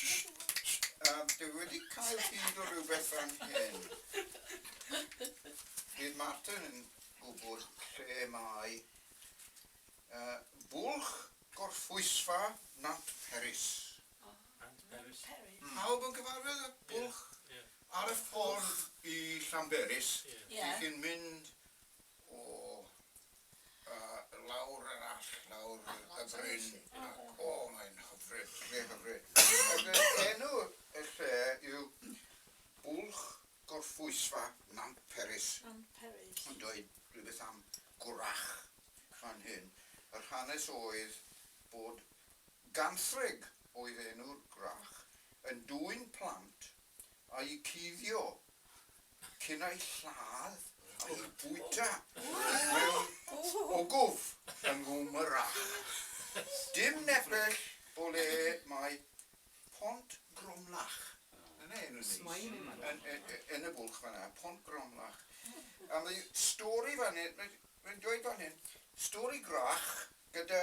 Yym, dwi wedi cael hyd o rywbeth fan hyn. Bydd Martin yn gwybod lle mae yy Bwlch Gorffwysfa Nant Peris. Nant Peris. Pawb yn cyfarwydd â Bwlch? Ar y ffordd i Llanberis, dych chi'n mynd o A lawr yr allt, lawr y bryn, ac o, mae'n hyfryd, mae'n hyfryd. Felly, enw y lle yw Bwlch Gorffwysfa Nant Peris. Nant Peris. Yn dweud rhywbeth am gwrach fan hyn. Yr hanes oedd bod Ganthrig oedd enw'r gwrach yn dwyn plant a'u cuddio ac yn ei lladd a'i bwyta mewn ogof yng Ngwmyrach. Dim nepell o le mae Pont Gromlach, dyna enw neis, yn y bwlch fan'na, Pont Gromlach. A mae stori fan hyn, mae'n dweud fan hyn, stori Gwrach gyda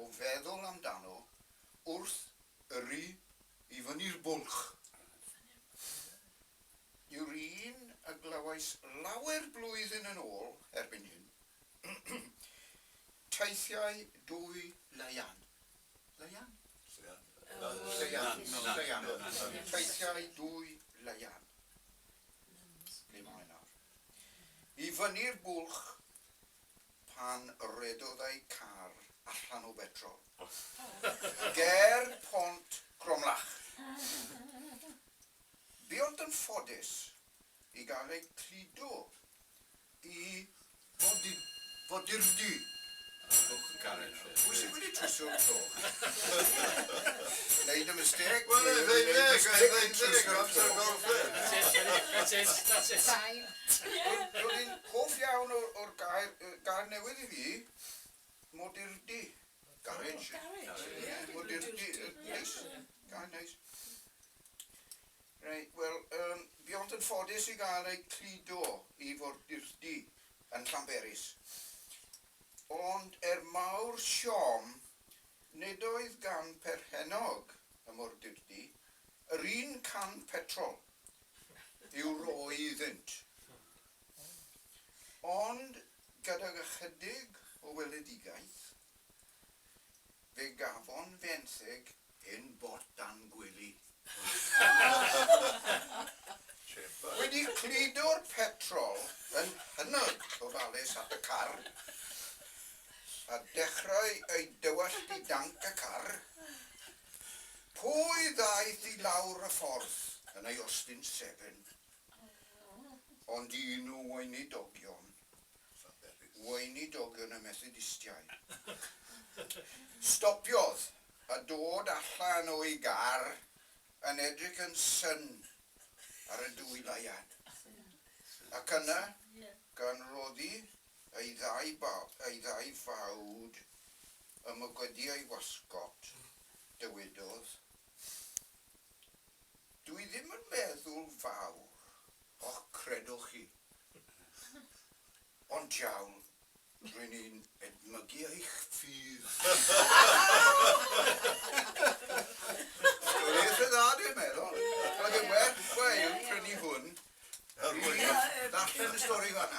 o feddwl amdano wrth yrru i fyny'r bwlch yw'r un y glywais lawer blwyddyn yn ôl erbyn hyn, Teithiau Dwy Laean. Laean? Lleuan. Lleuan. Teithiau Dwy Laean. Ble mae nawr? I fyny'r bwlch. pan redodai car allan o betrol ger Pont Cromlach. Buont yn ffodus i gael eu cludo i fodurdy clwch y carreg. Pwy sydd wedi trwsio'r clwch? Wneud y mistêc? Wel, efeilliaid, efeilliaid, amser golff, ie. That's it, that's it. Roedd hi'n hoff iawn o'r gair, gair newydd i fi, modurdy, garej, modurdy, neis, gair neis. Reit, wel, um, fi ond yn ffodus i gael ei cludo i fordurdy yn Llanberis. Ond er mawr siom, nid oedd gan perchennog y mordurdy yr un can petrol. yw roeddynt. Ond gydag ychydig o weledigaeth, fe gafon fenthyg hen bot dan gwely. Wedi cludo'r petrol yn hynod ofalus at y car, a dechrau ei dywallt i danc y car, Pwy ddaeth i lawr y ffordd yn ei Austin Seven? Ond un o weinidogion, weinidogion y Methodistiaid. Stopiodd a dod allan o'i gar yn edrych yn syn ar y dwy layan. Ac yna, gan roddi ei ddau fawd Ym mygwyddi ei wasgôt, dywedodd, Dw i ddim yn meddwl fawr. O, credwch chi. Ond jawn, rwy' ni'n edmygu eich ffydd. Stori eitha dda, dw i'n meddwl. Roedd e'n werth gwael prynu hwn i ddarllen y stori fan'na.